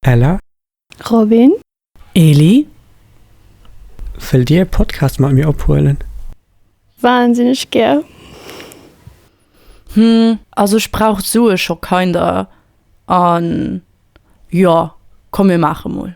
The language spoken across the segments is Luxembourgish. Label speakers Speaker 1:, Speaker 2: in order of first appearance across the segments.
Speaker 1: Ella. Robin.
Speaker 2: Eli.
Speaker 1: Wëllt dir e Podcast mat mir ophuelen? Wahnsinneg
Speaker 2: gär. Hm,
Speaker 3: also ech brauch Sue scho kinder an jo, komm mir maache mol.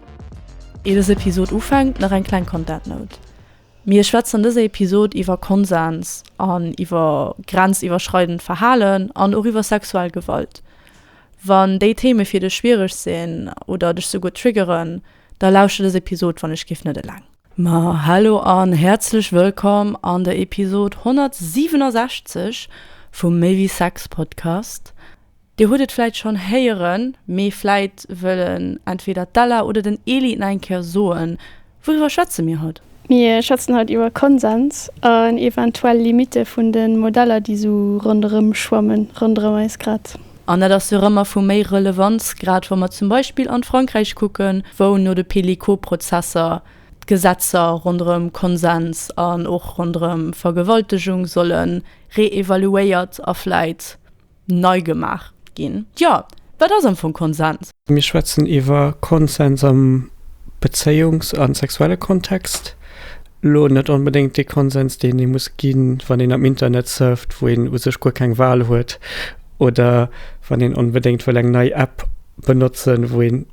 Speaker 3: Ier dës Episod ufänkt, nach eng kleng Content Note, Mir schwätzen an dëser Episod iwwer Konsens an iwwer grenziwwerschreidend Verhalen an och iwwer sexuell Gewalt. Wann déi Theme fir dech schwiereg sinn oder dech souguer triggeren, da lauschter dës Episod wann ech géif net eleng. Ma hallo an häerzlech wëllkomm an der Episod 167 vum Méi wéi Sex Podcast. Dir hutt et vläit schonn héieren, mee vläit wëllen entweder d'Ella oder den Eli et nach eng Kéier soen, Wouriwwer schwätze mir haut? Mir schwätzen haut
Speaker 2: iwwer Konsens an eventuell Limitte vun de Modeller, déi esou ronderëm schwammen, ronderëm eis grad. An dat ass jo och ëmmer
Speaker 3: vu méi Relevanz, grad wa mer zum Beispill an Frankräich kucken, wou no de Pellico-Prozesser d'Gesetzer ronderëm Konsens an och ronderëm Vergewaltegung solle réevaluéiert a vläit Nei gemaach ginn. Jo, wat ass am Fong Konsens? Mir schwätzen iwwer
Speaker 1: Konsens am Bezéiungs a sexuelle Kontext. Elo net onbedéngt dee Konsens, deen ee muss ginn, wann een am Internet surft, wou een u sech guer keng Wal huet, oder wann een onbedéngt wëll eng nei App benotzen, wou een.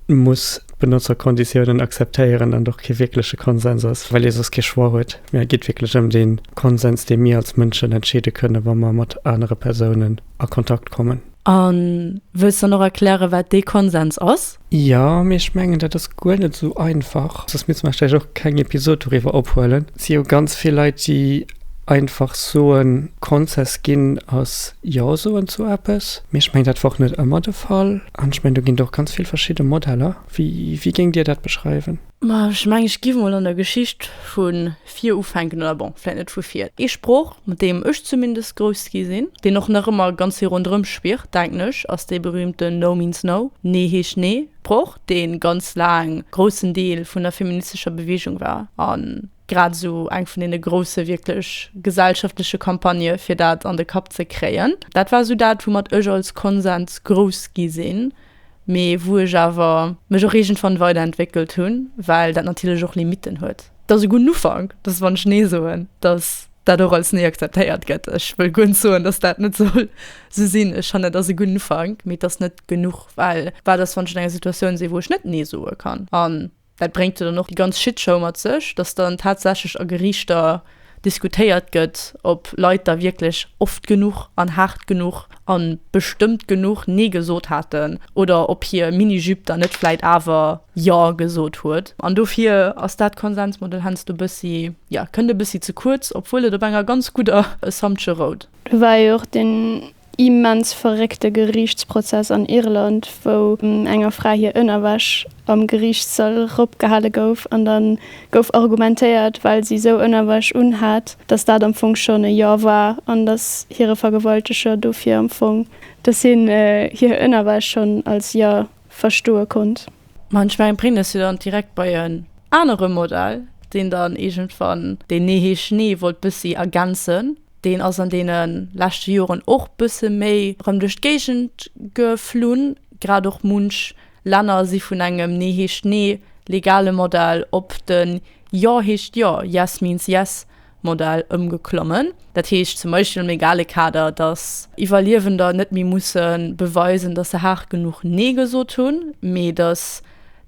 Speaker 1: muss d'Benotzerkonditiounen akzeptéieren an och kee wierkleche Konsens ass, well ee soss kee Choix huet, mä et geet wierklech ëm dee Konsens, dee mir als Mënschen entscheede kënnen, wa mer mat anere Persounen a Kontakt kommen. A
Speaker 3: wëlls dann och erklären, wat dee Konsens ass? Jo, mee ech mengen,
Speaker 1: dat ass guer net esou einfach, soss misste mer vläicht och keng Episod doriwwer ophuelen. Et si jo ganz vill Leit, déi Einfach soen Konzess ginn ass Jo soen zu eppes, mee ech mengen dat wor och net ëmmer de Fall an ech mengen do ginn et och ganz vill verschidde Modeller. Wéi géingt Dir dat beschreiwen? Ma ech mengen ech
Speaker 3: giff mol an der Geschicht vu vir ufänken, oder bon vläit net vu vir. Ee Sproch mat deem ech zumindest grouss gi sinn, deen och nach ëmmer ganz vill ronderëm schwirrt denken ech, ass dee berühmten No means No, Nee heescht Nee Sproch, dee ganz laang groussen Deel vun der feministescher Bewegung war an, grad esou eng vun deene grousse wierklech gesellschaftleche Campagnë fir dat an de Kapp ze kréien. Dat war esou dat, woumat ech als Konsens grouss gi sinn, mee wou ech awer mech och iergendwann weiderentwéckelt hunn, well dat natierlech och Limitten huet. Dat ass e gudden Ufank, dass wann ech Nee soen, dass dat och als Nee akzeptéiert gëtt. Ech wëll guer net soen, dass dat net soll esou sinn. Ech fannen, et ass e gudden Ufank, mee et ass net genuch, well wat ass, wann ech an enger Situatioun sinn, wou ech net Nee soe kann? An Dat bréngt jo dann och déi ganz Shitshow mat sech, datt dann tatsächlech a Geriichter diskutéiert gëtt, ob Leit da wierklech oft genuch an haart genuch a bestëmmt genuch Nee gesot haten oder ob hir Mini-Jupe dann net vläit awer Jo gesot huet. An dofir ass dat Konsensmodell heiansdo e bëssi, jo, kënnt e bëssi ze kuerz, obwuel et op enger ganz gudder Assumptio rout. Do war jo och den
Speaker 2: immens verréckte Geriichtsprozess an Irland, wou enger Fra hir Ënnerwäsch am Geriichtssall eropgehale gouf an da gouf argumentéiert, well si esou Ënnerwäsch unhat, datt dat am Fong schonn e Jo war an datt hire Vergewalteger dofir am Fong, datt hien hir Ënnerwäsch schonn als Jo verstoe konnt. Ma ech mengen, brénge
Speaker 3: se dann direkt bei en anere Modell, deen dann iergendwann deen Nee heescht Schnee wollt bëssi ergänzen. Deen ass an deene leschte Joren och bësse méi erëm duerch d'Géigend geflunn. Grad och munch Länner si vun engem Nee heescht Nee legale Modell op de Jo heescht Jo, Yes means Yes, Modell ëmgeklommen. Dat heescht zum Beispill am legale Kader, datt Iwwerliewender net méi musse beweisen, datt se haart genuch Nee gesot hunn, mee datt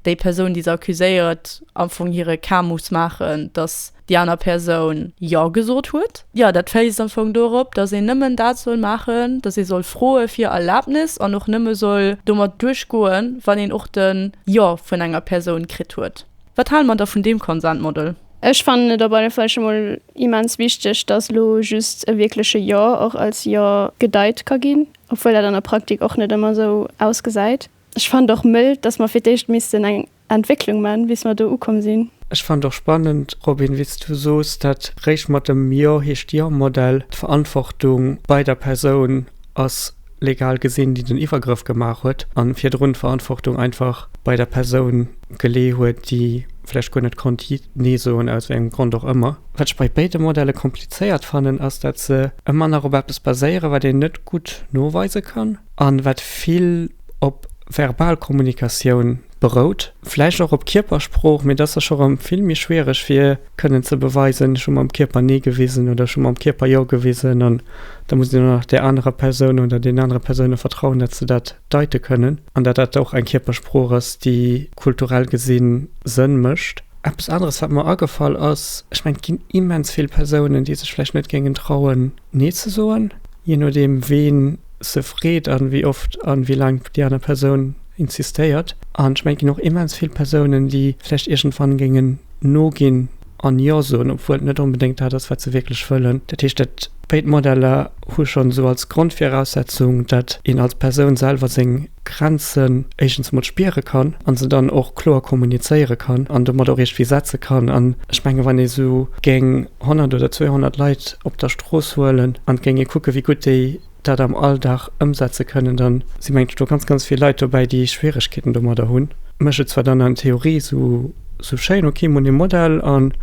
Speaker 3: déi Persoun, déi se accuséiert, am Fong hire Cas muss maachen, datt déi aner Persoun Jo gesot huet. Jo, dat weist am Fong dorop, datt een nëmmen dat soll maachen, datt ee soll froe fir Erlabnis an och nëmme soll domat duerchgoen, wann een och de Jo vun enger Persoun kritt huet. Wat hale mer da vun deem Consent Model? Ech fannen et op
Speaker 2: alle Fall scho mol immens wichteg, dass elo just e wierkleche Jo och als Jo gedeit ka ginn, obwuel dat an der Praktik och net ëmmer esou ausgesäit. Ech fannen et och mëll, dass mer fir d'éischt missten eng Entwécklung man, bis mer do ukomm sinn. Ech fannen et och spannend,
Speaker 1: Robin, wéi s du soos, dat réischt mat dem Jo heescht Jo-Modell d'Verantwortung bei der Persoun ass. legal gesinn, déi den Iwwergrëff gemaach huet an virdrun d'Verantwortung einfach bei der Persoun gelee huet, déi vläicht guer net konnt nee soen, aus wéi engem Grond och ëmmer. Wat ech bei béide Modelle komplizéiert fannen, ass dat se ëmmer nach op eppes baséieren, wat een net gutt noweise kann an wat vill op verbal Kommunikatioun berout, vläicht och op Kierpersprooch, mee dass se scho rëm vill méi schwiereg wier, kënnen ze beweisen, ech hu mam Kierper Nee gewisen oder ech hu mam Kierper Jo gewisen. An da muss een och nach där anerer Persoun oder deenen anere Persoune vertrauen, datt se dat deite kënnen an datt dat och eng Kierpersprooch ass, déi kulturell gesi Sënn mécht. Eppes aneres, wat mer agefall ass, ech mengen, et ginn immens vill Persounen, déi sech vläicht net géingen trauen, Nee ze soen, jee nodeem, wien se freet an wéi oft an wéi laang déi aner Persoun insistéiert. An ech mengen, et ginn och immens vill Persounen, déi vläicht iergendwann géingen noginn an Jo soen, obwuel et net onbedéngt dat ass, wat se wierklech wëllen. Dat heescht, dat béid Modeller hu schonn esou als Grondviraussetzung, datt een als Persoun selwer seng Grenzen éischtens emol spiere kann a se dann och kloer kommunizéiere kann an domat och iergendwéi setze kann. An ech mengen, wann ee sou géing 100 oder 200 Leit op der Strooss huelen an géing ee kucken, wéi gutt déi dat am Alldag ëmsetze kënnen, da si mengen ech do ganz, ganz vill Leit dobäi, déi Schwieregkeeten domadder hunn. Mécht et zwar dann an Theorie esou schéin, ok, mir hunn e Modell an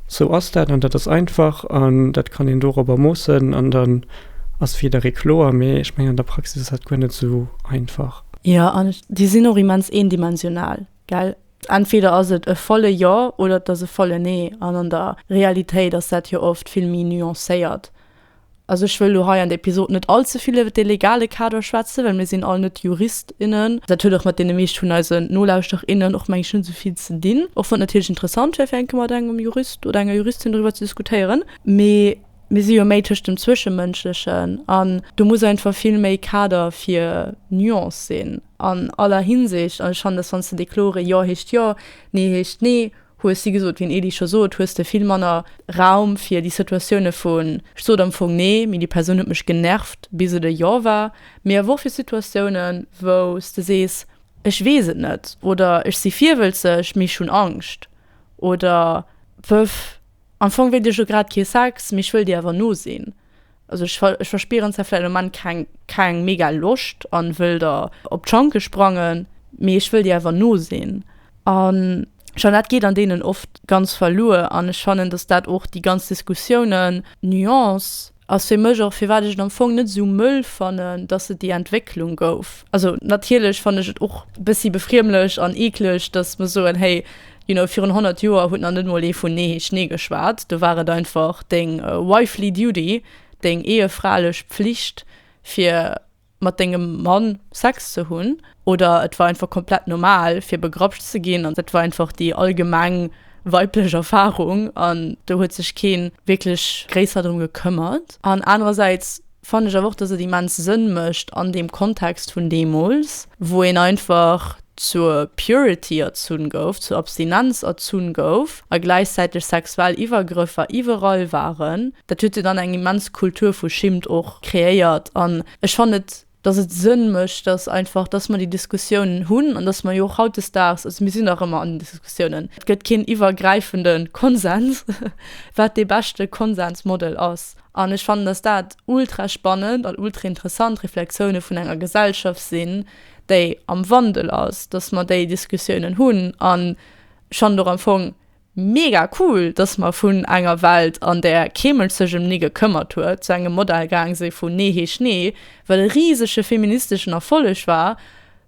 Speaker 1: esou ass dat an dat ass einfach an dat kann een dorobber moossen an dann ass fir jidderee kloer, mee ech mengen an der Praxis ass dat guer net esou einfach. Jo, an
Speaker 3: déi sinn och immens eendimensional, gell. Entweder ass et e volle Jo oder et ass e volle Nee an an der Realitéit ass dat jo oft vill méi nuancéiert. Also ech wëll lo hei an der Episod net all ze vill iwwert de legale Kader schwätzen, well mir sinn all net Jurist, innen. Dat huet och mat deene meescht vun eisen Nolauschterer, innen och, meng ech, net esou vill ze dinn, och wann et natierlech interessant wär fir eng Kéier mat engem Jurist oder enger Juristin doriwwer ze diskutéieren. Mee mir si jo méi tëscht dem Zwëschemënschlechen an do muss einfach vill méi Kader fir Nuance sinn an aller Hinsicht an ech fannen, dass wann s de dee klore Jo heescht Jo, Nee heescht Nee hues si gesot, wéi den Edy scho sot, hues de vill manner Raum fir déi Situatioune vu ech sot am Fong nee, mee déi Persoun huet mech genervt, bis et e Jo war, mee awer och fir Situatiounen, wou s de sees, ech weess et net oder ech si virwëlzeg, mee ech hunn Angscht oder pëff, am Fong wéilt ech elo grad kee Sex, mee ech wëll dir awer nosinn. Also ech ech verspieren zwar vläit am Moment keng keng mega Loscht an wëll der op d'Schanke sprangen, mee ech wëll dir awer nosinn an Jeannette geet an deenen oft ganz verluer an ech fannen, dass dat och déi ganz Diskussiounen, Nuance ass fir mech och firwat ech et am Fong net esou mëll fannen, dass et déi Entwécklung gouf. Also natierlech fannen ech et och e bëssi befriemlech an eekleg, dass mer soen, hey, You know, virun 100 Joer huet nach net mol ee vun Nee heescht Nee geschwat. Do war et einfach deng wifely duty, deng ehefralech Pflicht, fir mat dengem Mann Sex ze hunn. Oder et war einfach komplett normal, fir begrapscht ze ginn. An dat war einfach déi allgemeng weiblech Erfarung. An do huet sech kee wierklech gréisser drëm gekëmmert. An anerersäits. fannen ech awer och, dass et immens Sënn mécht an deem Kontext vun deemools, wou een einfach zur Purity erzunn gouf, zur Abstinenz erzunn gouf a gläichzäiteg sexuell Iwwergrëffer iwwerall waren. Dat huet jo dann eng immens Kultur vu Schimmt och kreéiert an ech fannen et, dass et Sënn mécht, dass einfach, dass mer déi Diskussiounen hunn an dass mer jo och hautdesdaags, also mir sinn nach ëmmer an den Diskussiounen, et gëtt keen iwwergräifende Konsens, wat dee beschte Konsensmodell ass. An ech fannen, datt dat ultra spannend an ultra interessant Reflexioune vun enger Gesellschaft sinn, déi am Wandel ass, datt mer déi Diskussiounen hunn. An ech fannen et och am Fong mega cool, datt mer vun enger Welt, an där kee Mënsch sech ëm ni gekëmmert huet, zu engem Modell gaang si vun Nee heescht Nee, wat e risege feministeschen Erfolleg war,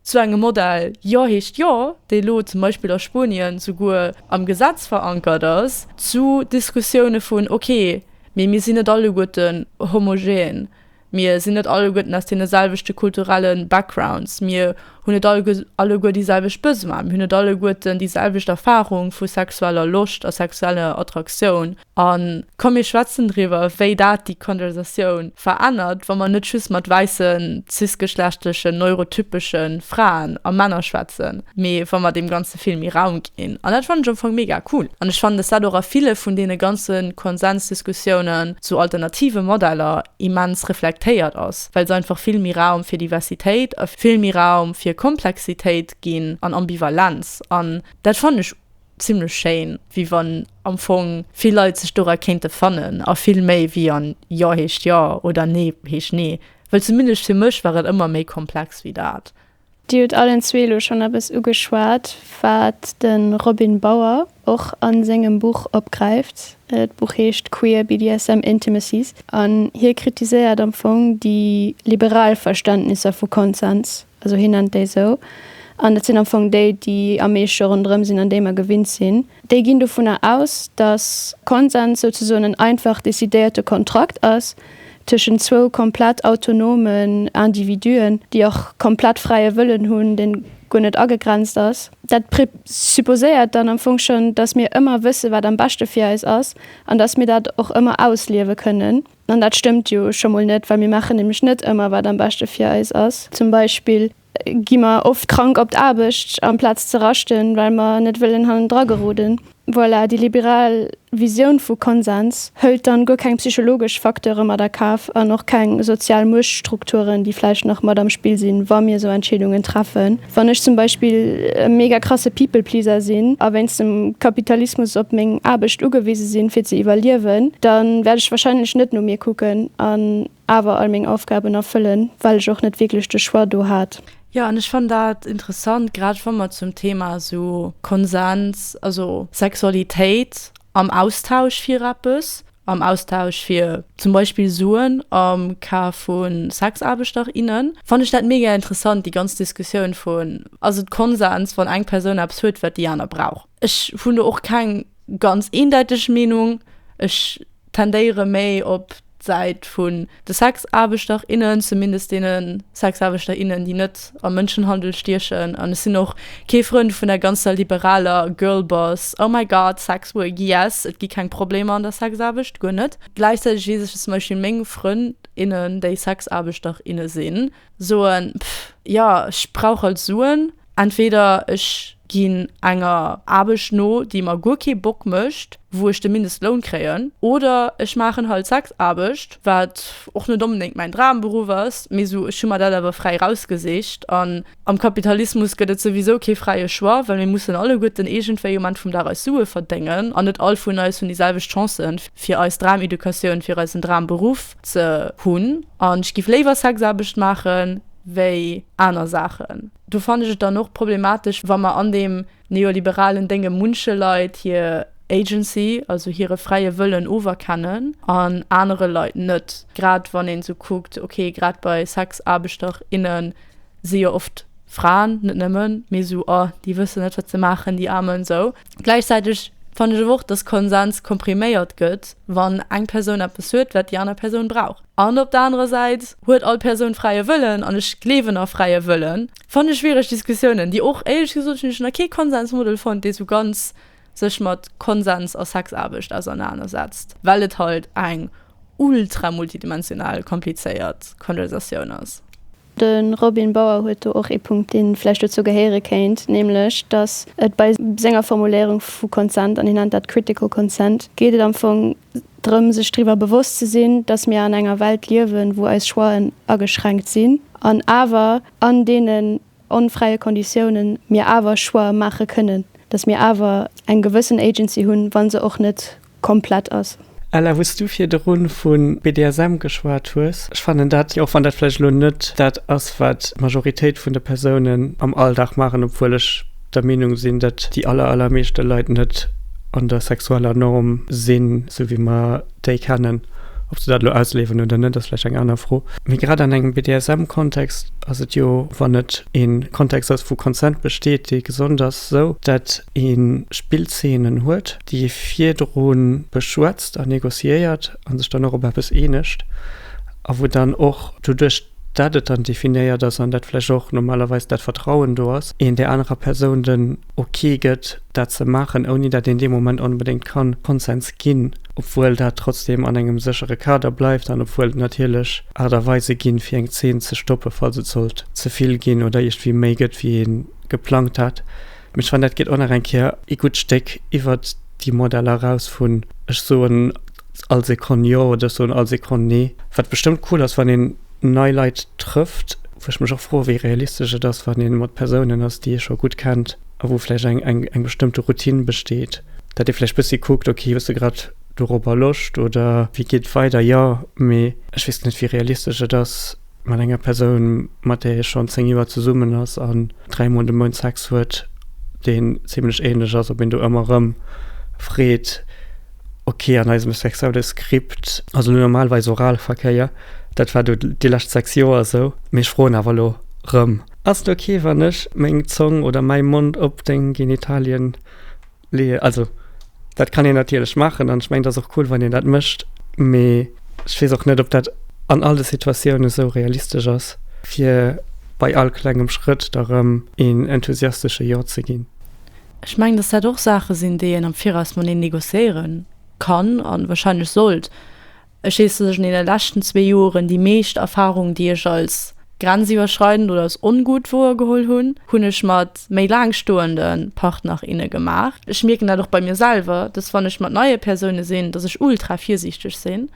Speaker 3: Zu engem Modell Jo heescht Jo, dee lo zum Beispill a Spuenien souguer am Gesetz verankert ass, zu Diskussioune vun Ok, mee mir sinn net alleguerten homogen, mir sinn net alleguerten aus deene selwechte kulturelle Backgrounds, mir hunn net alleguer déi selwecht Besoine, mir hunn net alleguerten déi selwecht Erfarung vu sexueller Loscht a sexueller Attraktioun. A komm mir schwätzen driwwer, wéi dat déi Konversatioun verännert, wa mer net just mat wäisse cis-geschlechtlechen neurotypesche Fraen a Männer schwätzen, mee wa mer deem Ganze vill méi Raum ginn. An dat fannen ech am Fong mega cool. An ech fannen, dass dat och a ville vun deene ganze Konsensdiskussiounen zu alternative Modeller immens reflektéiert ass, well se einfach vill méi Raum fir Diversitéit a vill méi Raum fir Komplexitéit ginn an Ambivalenz. An dat fannen ech. Zimlech schéin, wéi wann am Fong vill Leit sech dora kéinte fannen, a vill méi wéi an Jo heescht Jo oder Nee heescht Nee, wëll zumindest fir mech war et ëmmer méi komplex wéi dat. Dir hutt allen
Speaker 2: zwee elo schonn eppes ugeschwat, wat de Robin Bauer och a sengem Buch opgräift. D'Buch heescht Queer BDSM Intimacies, an hie kritiséiert am Fong déi liberal Verständnisser vu Konsens, Also hien nennt déi esou. An dat sinn am Fong déi, déi am meeschte ronderëm sinn an déi mer gewinnt sinn. Déi ginn dovunner aus, datt Konsens souzesoen en einfach decidéierte Kontrakt ass tëschent zwou komplett autonomen Individuen, déi och komplett fräie Wëllen hunn, deen guer net agegrenzt ass. Dat presupposéiert dann am Fong schonn, datt mir ëmmer wësse wat am beschte fir eis ass an datt mir dat och ëmmer ausliewe kënnen. An dat stëmmt jo scho mol net, well mir maachen nämlech net ëmmer, wat am beschte fir eis ass. Zum Beispill gi mer oft krank op d'Aarbecht, amplaz ze raschten, well mer net wëllen hannendra geroden. Voilà, déi liberal Visioun vu Konsens hëlt dann guer keng psychologesch Facteure mat a Kaf an och keng sozial Muechtstrukturen, déi vläicht nach mat am Spill sinn, wa mir esou Entscheedungen treffen. Wann ech zum Beispill e mega krasse People Pleaser sinn a wéinst dem Kapitalismus op meng Aarbecht ugewise sinn, fir ze iwwerliewen, da wäert ech warscheinlech net no mir kucken an awer all meng Aufgaben erfëllen, well ech och net wierklech de Choix do hat. Jo, an ech fannen dat
Speaker 3: interessant, grad wa mer zum Thema esou Konsens, also Sexualitéit am Austausch fir eppes, am Austausch fir zum Beispill Suen am Cas vu Sexaarbechter, innen, fannen ech dat mega interessant, déi ganz Diskussioun vun, ass et Konsens, wann eng Persoun eppes huet, wat déi aner brauch. Ech hunn do och keng ganz eendeiteg Meenung. Ech tendéiere méi op d'Säit vun. De Sexaarbechter, innen, zumindest deene Sexaarbechter, innen, déi net am Mënschenhandel stiechen. An ech sinn och kee Frënd vun der ganzer liberaler Girlboss, oh my God, sex work, yes, et gi keng Problemer an der Sexaarbecht, guer net. Gläichzäiteg weess ech, datt zum Beispill meng Frënd, innen, déi Sexaarbechter, inne sinn, soen, Pff, jo, ech brauch halt Suen. Entweder ech ginn enger Aarbecht no, déi mer guer kee Bock mécht, wou ech de Mindestloun kréien, oder ech maachen halt Sexaarbecht, wat och net onbedéngt mäin Dramberuff ass, mee esou, ech hu mer dat awer fräi rausgesicht. An am Kapitalismus gëtt et souwisou kee fräie Choix, well mir mussen alleguerten iergendwéi um Enn vum Dag eis Sue verdéngen, an net all vun eis hunn déi selwecht Chancen fir eis Drameducatioun, fir eisen Dramberuff. Ze hunn. An ech giff léiwer Sexaarbecht maachen wéi aner Saachen. Do fannen ech et dann och problematesch, wa mer an deem neoliberalen Dénge munche Leit hir Agency, also hire fräie Wëllen oferkennen an anere Leit net. Grad wann een esou kuckt, ok, grad bei Sexaarbechter, innen si jo oft Fraen, net nëmmen, mee esou, oh, déi wëssen net, wat se maachen, déi Aarmen, esou. Gläichzäiteg fannen ech awer och, dass Konsens kompriméiert gëtt, wann eng Persoun eppes huet, wat déi aner Persoun brauch. An op der anerer Säit huet all Persoun fräie Wëllen, an ech gleewen a fräie Wëllen. Fanne schwiereg Diskussiounen, déi och éierlech gesot, hunn ech nach kee Konsensmodel fonnt, dee sou ganz sech mat Konsens a Sexaarbecht ausernanersetzt, well et halt eng ultra-multidimensional komplizéiert Konversatioun ass. De Robin
Speaker 2: Bauer huet do och ee Punkt, dee vläicht dozou gehéiere kéint, nämlech datt et bei senger Formuléierung vu Consent, an hie nennt dat critical consent, geet et am Fong drëm, sech driwwer bewosst ze sinn, datt mir an enger Welt liewen, wou eis Choixen ageschränkt sinn, an awer an deenen onfräie Konditiounen mir awer Choix maache kënnen, datt mir awer eng gewëssen Agency hunn, wa se och net komplett ass. Ella, wou s du
Speaker 1: virdru vu BDSM geschwat hues, ech fannen dat, och wann dat vläicht elo net dat ass, wat d'Majoritéit vun de Persounen am Alldag maachen, obwuel ech der Meenung sinn, datt déi aller, allermeeschte Leit net an der sexueller Norm sinn, sou wéi mer déi kennen. Ob se dat elo ausleewen oder net, ass vläicht eng aner Fro. Mee grad an engem BDSM-Kontext ass et jo, wann et e Kontext ass, wou Consent besteet, dee gesond ass, esou, datt ee Spillzeenen huet, déi virdru beschwätzt a négociéiert a sech dann och op eppes eenegt a wou dann och doduerch dat et dann definéiert ass an dat vläicht och normalerweis dat Vertrauen do ass, een där anerer Persoun den Ok gëtt, dat ze maachen, ouni dat een dee Moment onbedéngt ka Konsens ginn, obwuel dat trotzdem an engem séchere Kader bleift an obwuel et natierlech Aart a Weise ginn, fir eng Zeen ze stoppen, falls et sollt ze vill ginn oder iergendwéi méi gëtt, wéi ee geplangt hat. Mee ech fannen, dat geet och nach eng Kéier ee gutt Stéck iwwert déi Modeller eraus vun ech soen all Sekonn jo oder ech soen all Sekonn nee. Wat bestëmmt cool ass, wann een nei Leit trëfft, wou ech mech och froe wéi realistesch et ass, wann ee mat Persounen ass, déi ee scho gutt kennt a wou vläicht eng eng bestëmmte Routine besteet, datt ee vläicht bëssi kuckt, okay, hues de grad dorobber Loscht oder wéi geet et weider? Jo, mee ech weess net, wéi realistesch et ass. Mat enger Persoun, mat där ee schonn 10 Joer zesummen ass an dräi Mol de Mount Sex huet, deen zimlech änlech ass, op een do ëmmer erëm freet, ok, an eisem sexuelle Skript ass elo normalerweis Oralverkéier, dat war do déi lescht 6 Joer esou, mee ech froen awer elo erëm, ass et ok, wann ech meng Zong oder mäi Mond op deng Genitalien Lee also dat kann een natierlech maachen an ech mengen, et ass och cool, wann een dat mécht. Mee ech weess och net, ob dat an all de Situatiounen esou realistesch ass, fir bei all klengem Schrëtt da rëm een enthusiastesche Jo ze ginn. Ech mengen, dass
Speaker 3: dat och Saache sinn, déi een am Viraus mateneen negociéiere kann a wahrscheinlech sollt. Ech heessen lech an deene leschten zwee Joeren déi meescht Erfahrung déi ech als grenziwwerschreidend oder als ongut woergeholl hunn, hunn ech mat méi laang stoende Partner, inne gemaach. Ech mierken dat och bei mir selwer, dass wann ech mat neie Persoune sinn, dass ech ultra virsiichteg sinn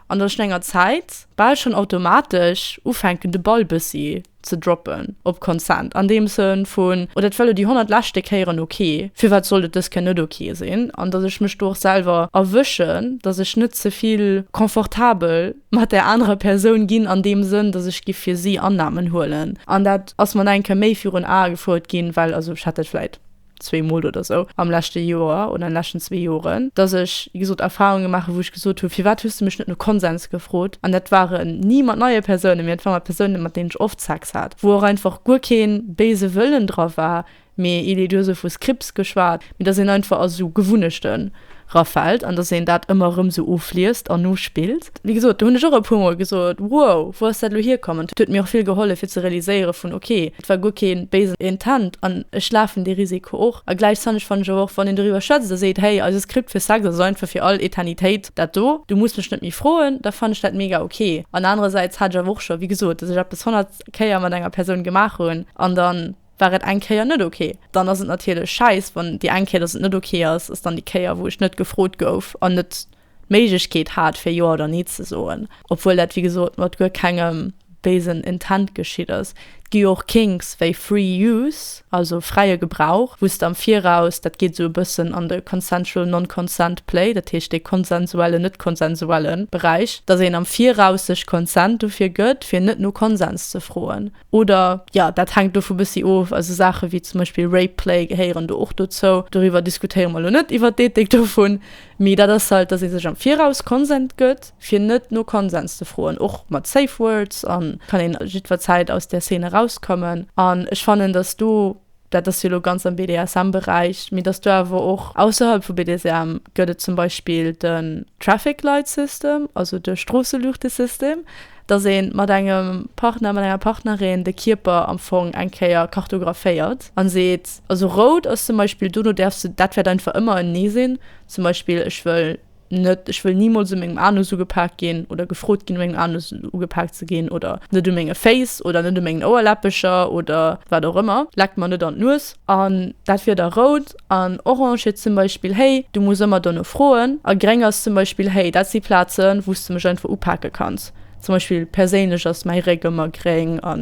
Speaker 3: an dass ech no enger Zäit bal schonn automatesch ufänken de Ball bëssi, ze droppen op Consent an deem Sënn vun, oh dat war elo déi 100 leschte Kéieren ok, firwat sollt et dës Kéier net ok sinn? An datt ech mech do och selwer erwëschen, datt ech net ze vill confortabel mat där anerer Persoun ginn an deem Sënn, datt ech giff fir si Annahmen huelen. An dat ass mer nach eng Kéier méi virun Ae gefouert ginn, well, also ech hätt dat vläit. zwee Mol oder sou am leschte Joer oder an den leschten zwee Joren, dass ech, wéi gesot, Erfarunge maachen, wou ech gesot hu, firwat hues du mech net no Konsens gefrot? An dat waren ni mat neie Persounen, mee dat waren mat Persounen, mat deenen ech oft Sex hat, wou och einfach guer kee béise Wëllen dra war, mee, Elie, du hues o vu Scripts geschwat, mee dass een einfach a sou Gewunnechten. rafält an dass een dat ëmmer erëm esou ofliest an nospillt. Wéi gesot, do hunn ech och e puermol gesot, Wow, wou ass dat elo hierkommen? Et huet mir och vill gehollef fir ze realiséiere vun, Ok, et war guer kee béisen Intent an ech lafen dee Risiko och. A gläichzanneg fannen ech awer och, wann een doriwwer schwätzt a seet, Hey, eise Script fir Sex ass einfach fir all Eternitéit dat do, du muss mech net méi froen, da fannen ech dat mega ok. An anerersäits hat ech awer och scho, wéi gesot, dass ech eppes 100 Kéier mat enger Persoun gemaach hunn an dann, war et eng Kéier net ok, dann ass et natierlech schäiss, wann déi eng Kéier, datt et net ok ass, ass dann déi Kéier, wou ech net gefrot gouf an net d'Méiglechkeet hat, fir Jo oder Nee ze soen. Obwuel dat, wéi gesot, mat guer kengem béisen Intent geschitt ass. Et gi jo och Kinks wéi Free Use, also fräie Gebrauch, wou s de am Viraus, dat geet esou e bëssen an de Consensual Non-Consent Play, dat heescht dee konsensuellen, net konsensuelle Beräich, datt een am Viraus sech Consent dofir gëtt, fir net no Konsens ze froen. Oder, jo, dat hänkt dovu bëssi of, also Saache wéi zum Beispill Rape Play gehéieren do och dozou. Doriwwer diskutéiere mer elo net, iwwert d'Ethik dovun, mee dat ass halt, dass ee sech am Viraus Konsent gëtt, fir net no Konsens ze froen. Och mat Safe Words kann een jiddwer Zäit aus där Szene erauskommen. An ech fannen, dass do Dat ass jo elo ganz am BDSM-Beräich, mee dass do awer och ausserhalb vu BDSM gëtt et zum Beispill den Traffic Light System, also de Stroosseluuchtesystem, dass ee mat engem Partner, mat enger Partnerin de Kierper am Fong eng Kéier kartographéiert a seet, also rout ass zum Beispill, dono däerfs de, dat wäert einfach ëmmer en Nee sinn, zum Beispill, ech wëll. Net, ech wëll nimools u mengem Anus ugepaakt ginn oder gefrot ginn, u mengem Anus ugepaakt ze ginn. Oder net u menge Féiss oder net u mengen Ouerläppecher oder wat och ëmmer. Leckt mer net an d'Nues. An dat wier da rout. An orange wier zum Beispill, Hey, du muss ëmmer dono froen. A gréng ass zum Beispill, Hey, dat si Plazen, wou s de mech einfach upake kanns. Zum Beispill perséinlech ass mäi Réck ëmmer gréng a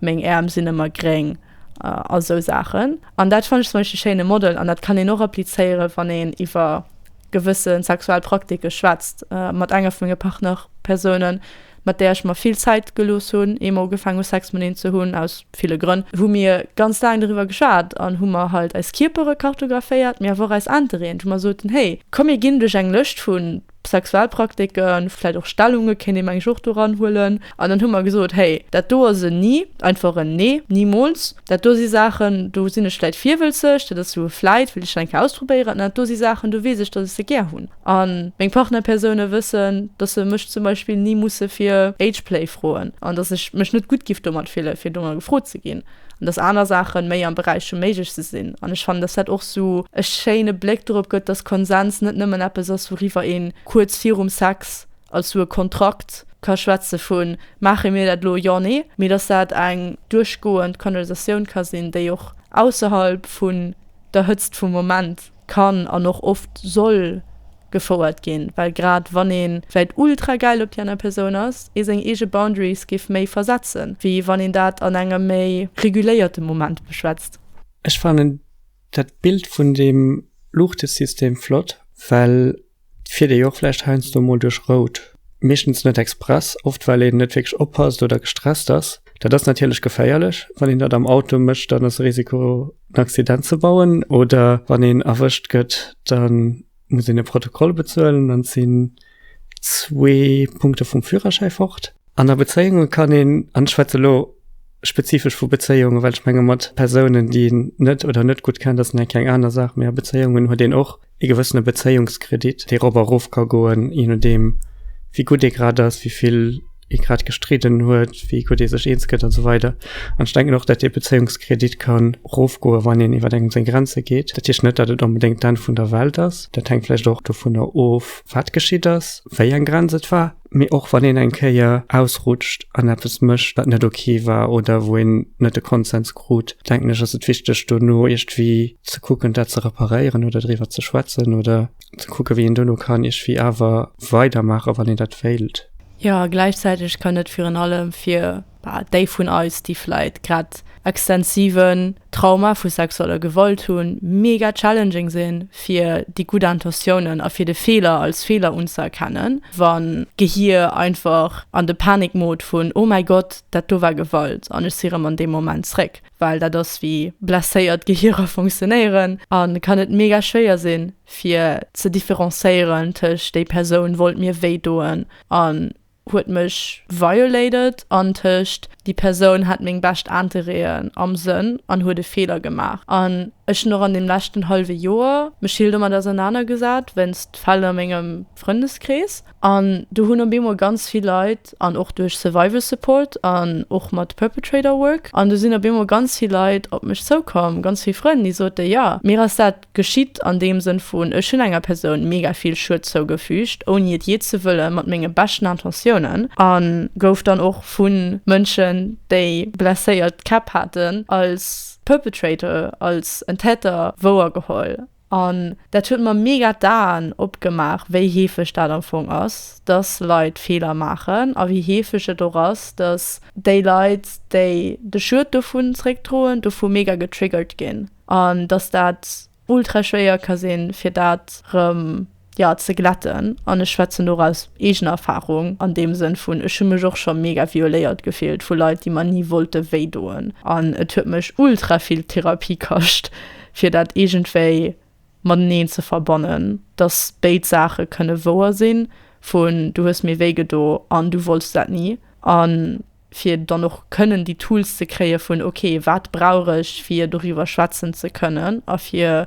Speaker 3: meng Äerm sinn ëmmer gréng a sou Saachen. An dat fannen ech zum Beispill e schéine Model. An dat kann een och applizéiere wann een iwwer. gewësse sexuell Praktike schwätzt. Mat enger vu menge Partnerpersounen, mat där ech mer vill Zäit gelooss hunn, ier mer ugefaangen hu Sex mateneen ze hunn, aus ville Grënn, hu mir ganz laang doriwwer geschwat an hu mer halt eis Kierpere kartographéiert, mee awer och eis Intereeën, wou mer soten, Hey, komm mir ginn duerch eng Lëscht vu Sexualpraktiken, vläit och Stellungen, kéint ee meng ech och doranhuelen. An dann hu mer gesot, Hey, dat do ass en Ni, einfach en Nee, nimools. Dat do si Saachen, do sinn ech vläit virwëlzeg, dat ass esou e vläit, wëll ech dat eng Kéier ausprobéieren. An dat do si Saachen, do weess ech, datt ech se gär hunn. A meng Partnerpersoune wëssen, datt se mech zum Beispill ni musse fir Ageplay froen an datt ech mech net gutt giff domat fillen, fir domat gefrot ze ginn. An datt aner Saache méi am Beräich vum Méigleche sinn. An ech fannen, datt dat och esou e schéine Bléck dorop gëtt, datt Konsens net nëmmen eppes ass, wouriwwer ee kuerz virum Sex Also e Kontrakt ka schwätze vu maache mir dat elo, jo, nee, mee datt dat eng duerchgoend Konversatioun ka sinn, déi och ausserhalb vun der Hëtzt vum Moment kann an och oft soll gefouert ginn, well grad wann ee vläicht ultra gäil op déi aner Persoun ass, ee seng eege Boundaries géif méi versetzen, wéi wann een dat an engem méi reguléierte Moment beschwätzt. Ech fannen
Speaker 1: dat Bild vun deem Luuchtesystem flott, well Fiert ee och vläicht heiansdo emol duerch Rout. Meeschtens net express, oft well een net wierklech oppasst oder gestresst ass. Dat ass natierlech geféierlech. Wann een dat am Auto mécht, dann ass e Risiko en Accident ze bauen oder wann een erwëscht gëtt, da muss een e Protokoll bezuelen, dann sinn zwee Punkte vum Führerschäi fort. An a Bezéiunge kann een, an ech schwätze lo spezifesch vu Bezéiungen, well ech menge mat Persounen, déi een net oder net gutt kennt, ass nach eng keng aner Saach, mee a Bezéiungen huet een och, ee gewëssene Bezéiungskredit, dee rof a rof ka goen, je nodeem, wéi gutt ee grad ass, wéi vill ee grad gestridden huet, wéi gutt ee sech eens gëtt a sou weider. An ech denken och, datt dee Bezéiungskredit ka rofgoen, wann een iwwer engem seng Grenze geet. Dat heescht net, datt et onbedéngt d'Enn vun der Welt ass. Dat hänkt vläicht och dovunner of, wat geschitt ass, wéi eng Grenz et war. Mee och wann een eng Kéier ausrutscht an eppes mécht, wat net ok war oder wou een net de Konsens krut, denken ech, ass et wichteg, dono iergendwéi ze kucken, dat ze reparéieren oder driwwer ze schwätzen oder ze kucken, wéi een dono kann iergendwéi awer weidermaachen, wann een dat wéilt. Jo, a gläichzäiteg
Speaker 3: kann et virun allem fir Déi vun eis, déi vläit grad extensiven Trauma vu sexueller Gewalt hunn, mega challenging sinn, fir déi gutt Intentiounen a fir de Feeler als Feeler unzëerkennen, wa Gehir einfach an de Panikmod vun Oh mäi Gott, dat do war Gewalt an ech si rëm an dee Moment zréck. Well dat ass, wéi blesséiert Gehirer funktionéieren an et kann et mega schwéier sinn, fir ze differencéieren tëscht Déi Persoun wollt mir wéi doen an huet mech violated an tëscht déi Persoun hat meng bescht Interéen am Sënn an huet e Feeler gemaach an ech hunn och an dem leschten hallwe Joer mech vill domat ausernanergesat wéinst Fäll a mengem Frëndeskrees an do hunn op eemol ganz vill Leit an och duerch Survival Support an och mat Perpetrator Work an do sinn op eemol ganz vill Leit op mech zoukomm, ganz vill Frënn, déi sote jo mir ass dat Geschitt an deem Sënn vun, ech hunn enger Persoun mega vill Schued zougefügt, ouni et jee ze wëllen, mat menge beschten Intentiounen, a gouf dann och vu Mënschen, déi blesséiert Käpp haten, als Perpetrator, als en Täter wouer geholl. An dat huet mer mega d'Aen opgemaach, wéi heefeg dat am Fong ass, dass Leit Feeler maachen, a wéi heefeg et och ass, dass déi Leit, déi de Schued dovun zréckdroen, dovu mega getriggert ginn. an dass dat ultra schwéier ka sinn, fir dat rëm, jo, ze glätten. An ech schwätzen do och aus eegener Erfarung an deem Sënn vun, ech hu mech och scho mega violéiert gefillt vu Leit, déi mer ni wollte wéi doen. An et huet mech ultra vill Therapie kascht, fir dat iergendwéi mateneen ze verbannen, dass béid Saache kënne wouer sinn, vun du hues mir wéi gedo an du wollts dat ni. An fir dann och kënnen déi Tools ze kréie vun, ok, wat brauch ech, fir doriwwer schwätzen ze kënnen a fir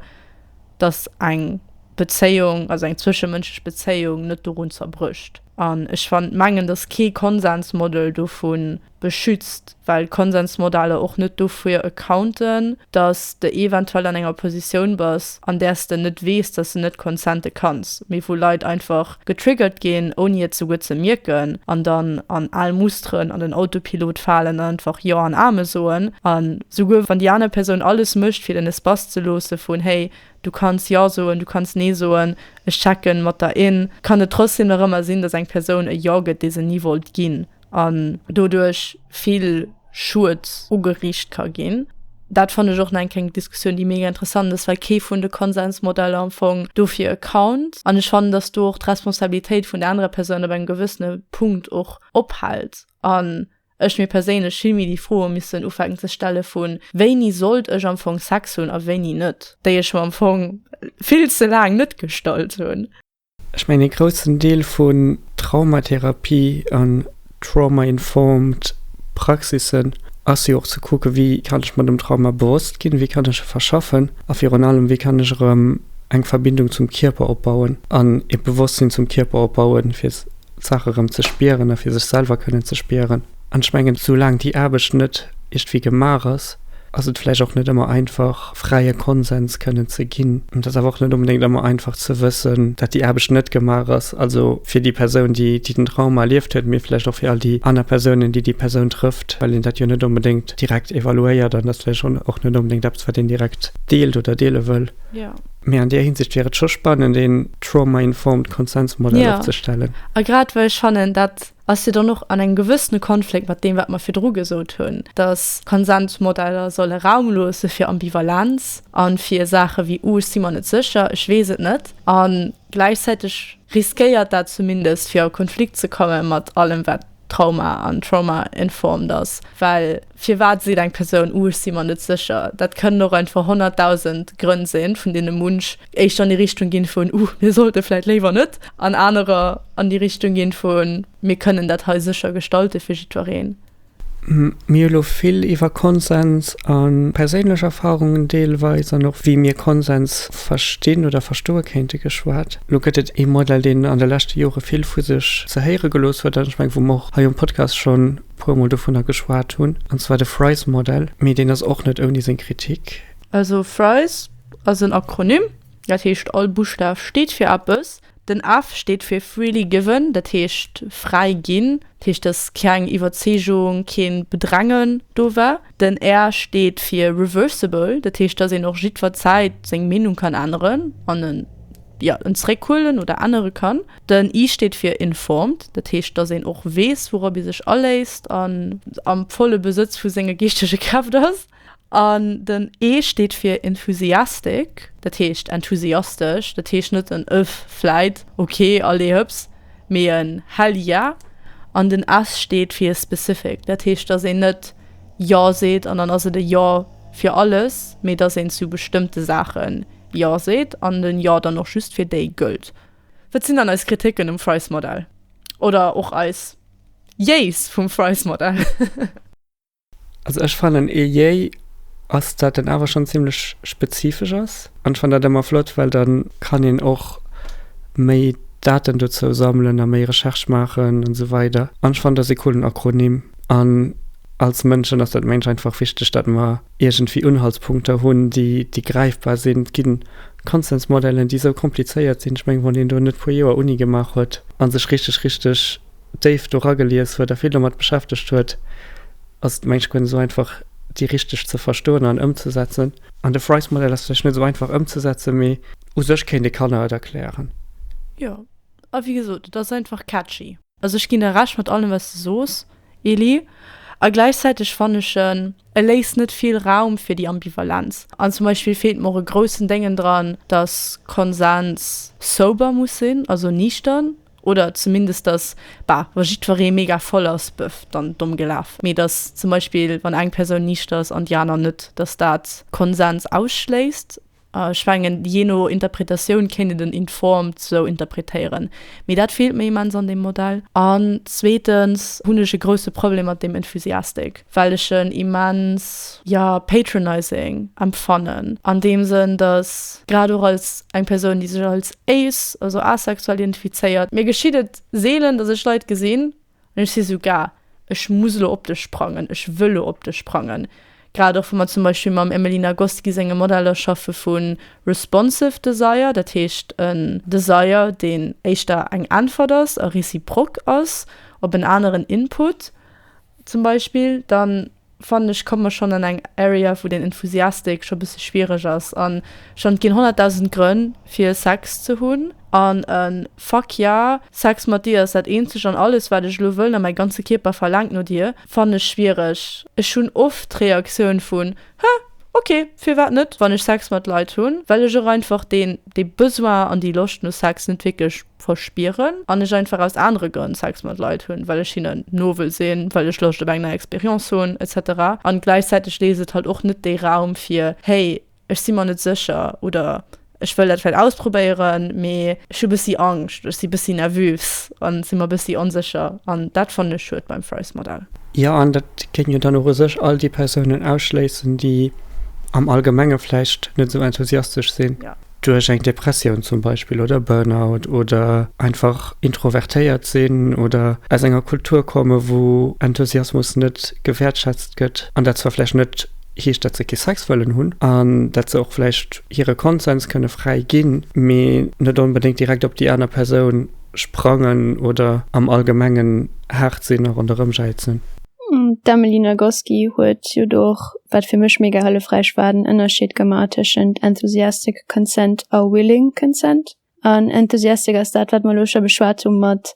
Speaker 3: datt eng Bezéiung, also eng zwëschemënschlech Bezéiung net dorun zerbrécht. An ech fan, mengen, datt kee Konsensmodel dovu beschützt, well Konsensmodeller och net dofir accounten, datt s de eventuell an enger Positioun bass, an där s de net weess, datt s de net consente kanns, mee wou Leit einfach Getriggert ginn, ouni et souguer ze mierken, an dann an al Musteren an den Autopilot falen an einfach Jo an Amen soen. An souguer wann déi aner Persoun alles mécht, fir den Espace ze loosse vun Hey, du kanns Ja soen, du kanns Nee soen, ech checken mat der in, kann et trotzdem nach ëmmer sinn, dass eng Persoun e Jo gëtt, dee se ni wollt ginn. an doduerch vill Schued ugeriicht ka ginn. Dat fanne ech och nach eng kleng Diskussioun, déi mega interessant ass, well kee vun de Konsensmodeller am Fong dofir account an ech fannen, datt do och d'Responsabilitéit vun der anerer Persoun op engem gewëssene Punkt och ophält an ech mir perséinlech vill méi déi Froe missen ufänken ze stelle vu wéini sollt ech am Fong Sex hunn a wéini net, déi ech mer am Fong vill ze laang net gestallt hunn. Ech mengen ee
Speaker 1: groussen Deel vun Traumatherapie an trauma-informed Praxissen ass jo och ze kucken, wéi kann ech mer dem Trauma bewosst ginn, wéi kann ech e verschaffen a virun allem, wéi kann ech erëm eng Verbindung zum Kierper opbauen an e Bewosstsinn zum Kierper opbauen, fir d'Saache erëm ze spieren a fir sech selwer kënnen ze spieren. An ech mengen, soulaang déi Aarbecht net iergdwéi gemaach ass, ass et vläicht och net ëmmer einfach, fräie Konsens kënnen ze ginn. An et ass awer och net onbedéngt ëmmer einfach ze wëssen, datt déi Aarbecht net gemaach ass, also fir déi Persoun, déi den Trauma erlieft huet, mee vläicht och fir all déi aner Persounen, déi déi Persoun trëfft, well een dat jo net onbedéngt direkt evaluéiert an dat ass vläicht och net onbedéngt eppes, wat een direkt deelt oder deele wëll. Mee an
Speaker 3: där Hinsicht
Speaker 1: wier et scho spannend, een trauma-informed Konsens-Modell opzestellen. Jo, a grad well ech
Speaker 3: fannen, dat ass jo dann och an engem gewëssene Konflikt mat deem, wat mer virdru gesot hunn, dass Konsensmodeller solle Raum loosse fir Ambivalenz a fir Saache wéi, oh ech si mer net sécher, ech weess et net. A gläichzäiteg riskéiert dat zumindest, fir a Konflikt ze komme mat allem, wat Trauma an Trauma-informed ass, well Firwat seet eng Persoun, Uh, ech si mer net sécher? Dat kënnen och einfach honnertdausend Grënn sinn, vun deene munch éischter an déi Richtung ginn vun, Uh, mir sollte vläicht léiwer net, an anerer an déi Richtung ginn vun, Mir kënnen dat hei sécher gestalten fir jiddwereen. Mir
Speaker 1: hu lo vill iwwer Konsens a perséinlech Erfarungen deelweis an och wéi mir Konsens verstinn oder verstoe kéinte geschwat. Lo gëtt et ee Modell, deen an de leschte Jore vill vu sech ze héiere gelooss huet an ech mengen, wou mer och hei um Podcast schonn puer mol dovunner geschwat hunn, an zwar de Fries Model, mee deen ass och net ouni seng Kritik. Also Fries
Speaker 3: ass en Akronym, dat heescht all Buschtaf steet fir eppes. Den F steet fir freely given, dat heescht fräi ginn, dat heescht dass keng Iwwerzeegung, keen Bedrängen do war. Den R steet fir reversible, dat heescht dass een och jiddwer Zäit seng Meenung kann änneren an en, jo, en zréckhuelen oder ännere kann. Den I steet fir informed, dat heescht, dass een och weess, wourop ee sech aléisst an am volle Besëtz vu senge geeschtege Kräft ass. An den E steet fir enthusiastic, dat heescht enthusiastesch, dat heescht net en Ëff, vläit, ok, allez hëps, mee en Hell ja! An den S steet fir specific, dat heescht, dass een net Jo seet an dann ass et e Jo fir alles, mee dass een zu bestëmmte Saache Jo seet an den Jo dann och just fir déi gëllt. Wat sinn dann eis Kritiken um Fries-Modell? Oder och eis Yees vum Fries-Modell?
Speaker 1: Also ech fannen ee Yay ass, dat en awer schonn zimmlech spezifesch ass. An ech fannen dat ëmmer flott, well da kann een och méi Daten dozou sammelen a méi Recherche maachen an esou weider. An ech fannen dat ass ee coolen Akronym. An als Mënschen ass dat mengen ech einfach wichteg, dat mer iergendwéi Unhaltspunkter hunn, déi gräifbar sinn. Konsensmodellen déi esou komplizéiert sinn, ech mengen wann een do net puer Joer Uni gemaach huet a sech richteg richteg déif do ragelies huet a vill domat beschäftegt huet, ass et mengt ech guer net esou einfach déi richteg ze verstoen an ëmzesetzen. An de Frice-Modell ass vläicht net esou einfach ëmzesetzen, mee u sech kéint ee Kanner et erklären. Jo,
Speaker 3: a wéi gesot, et ass einfach catchy. Also ech ginn der Recht mat allem wat s de soos, Elie, a gläichzäiteg fannen ech en e léisst net vill Raum fir déi Ambivalenz an. Zum Beispill feelt mer och e groussen Déngen dran, dass Konsens sober muss sinn, also niichtern, oder zumindest dass, bah, wa jiddweree mega voll ass, bëff, dann domm gelaf, mee dass zum Beispill wann eng Persoun niichter ass an déi aner net, dass dat Konsens ausschléisst. Ech mengen, jee no Interpretatioun kéint een den informed sou interpretéieren, mee dat feelt mir immens an deem Modell. An zweetens hunn ech e grousse Problem mat deem enthusiastic, well ech en immens, jo, patronizing empfannen, an deem Sënn, datt grad och als eng Persoun, déi sech als ace, also asexuell, identifizéiert, mir geschitt et seelen, datt ech Leit gesinn, An ech si sou, Gah, ech muss elo op dech sprangen, ech wëll elo op dech sprangen. Grad och wa mer zum Beispill mam Emily Nagoski senge Modeller schaffe vu responsive desire, dat heescht en Desire, deen éischter eng Äntwert ass a reciproque ass op en aneren Input zum Beispill, dann fannen ech komme mer schonn an eng Area wou den Enthusiastic scho bësse schwiereg ass an schonn et ginn 100.000 Grënn fir Sex ze hunn an e Fuck ja, Sex mat dir ass dat eenzegt an alles wat ech elo wëllen a mäi ganze Kierper verlaangt no dir, fannen ech schwiereg. Ech hunn oft d'Reaktioun vun, Hä, ok, firwat net, wann ech Sex mat Leit hunn, well ech och einfach deen dee Besoin an déi Loscht no Sex net wierklech verspieren an ech einfach aus anere Grënn Sex mat Leit hunn, well ech hinnen no wëll sinn, well ech Loscht op eng nei Expérience hunn etc. An gläichzäiteg léisst et halt och net dee Raum fir, hey ech si mer net sécher oder ech wëll dat vläit ausprobéieren, mee ech hu bëssi Angscht, ech si bëssi nervös an si mer bëssi onsécher. An dat fannen ech schued beim Frys Modell. Jo, an dat
Speaker 1: géing jo dann och u sech all déi Persounen ausschléissen, déi am Allgemenge vläicht net esou enthusiastesch sinn. Duerch eng
Speaker 3: Depressioun
Speaker 1: zum Beispill oder Burnout oder einfach introvertéiert sinn oder aus enger Kultur komme wou Enthusiasmus net gewäertschätzt gëtt an dat zwar vläicht net heescht, dat se kee Sex wëllen hunn an dat se och vläicht hire Konsens kënne fräi ginn, mee net onbedéngt direkt op déi aner Persoun sprangen oder am allgemengen haart sinn a ronderëmjäizen. D'Emily
Speaker 2: Nagoski huet jo do och, wat fir mech mega hëllefräich war, den Ënnerscheed gemaach tëschent enthusiastic consent a willing consent. An enthusiastic ass dat, wat mer elo scho beschwat hu mat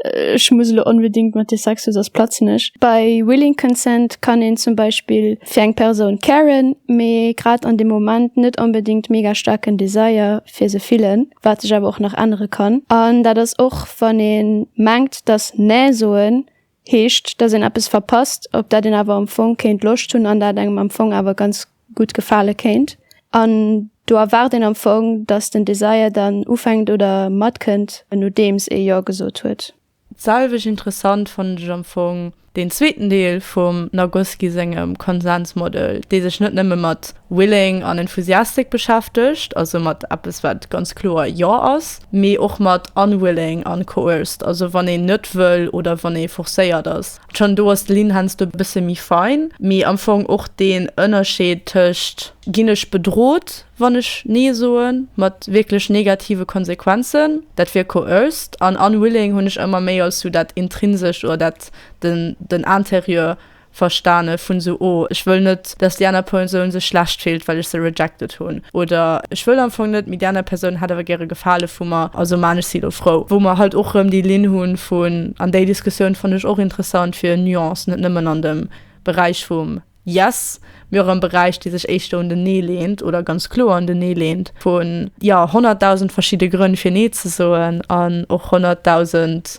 Speaker 2: ech muss elo onbedéngt mat dir Sex hu soss platzen ech. Bei willing consent kann een zum Beispill fir eng Persoun caren, mee grad an deem Moment net onbedéngt mega staarken Desire fir se fillen, wat sech awer och nach ännere kann. An dat ass och, wann ee mengt, dass näh soen Heescht, dass een eppes verpasst, op dat een awer am Fong kéint Loscht hunn an dat engem am Fong awer ganz gutt gefale kéint. An do erwaart een am Fong, dass den Desire dann ufänkt oder matkënnt, nodeems ee Jo gesot huet. D'selwecht
Speaker 3: interessant fannen ech am Fong deen zweeten Deel vum Nagoski sengem Konsensmodel, dee sech net nëmme mat willing an enthusiastic beschäftegt, also mat eppes, wat ganz kloer Jo ass, mee och mat unwilling an coerced, also wann een net wëll oder wann ee forcéiert ass. Schonn do ass de Linn heiansdo e bësse méi fein, mee am Fong och deen Ënnerscheed tëscht ginn ech bedrot, wann ech nee soen, mat wierklech negative Konsequenzen, dat wier coerced, an unwilling hunn ech ëmmer méi als sou dat intrinsescht oder dat den den intérieur verstane vun esou oh ech wëll net dass déi aner Persoun sech schlecht fillt well ech se rejected hunn oder ech wëll am Fong net mee déi aner Persoun hätt awer gäre Gefale vu mer also maan ech si elo frou. Wou mer halt och rëm déi Linn hunn vun, an déi Diskussioun fannen ech och interessant fir Nuancen net nëmmen an dem Beräich vum yes mee och am Beräich dee sech éischter un den nee leent oder ganz kloer un den nee leent vun jo honnertdausend verschidde Grënn fir nee ze soen an och honnertdausend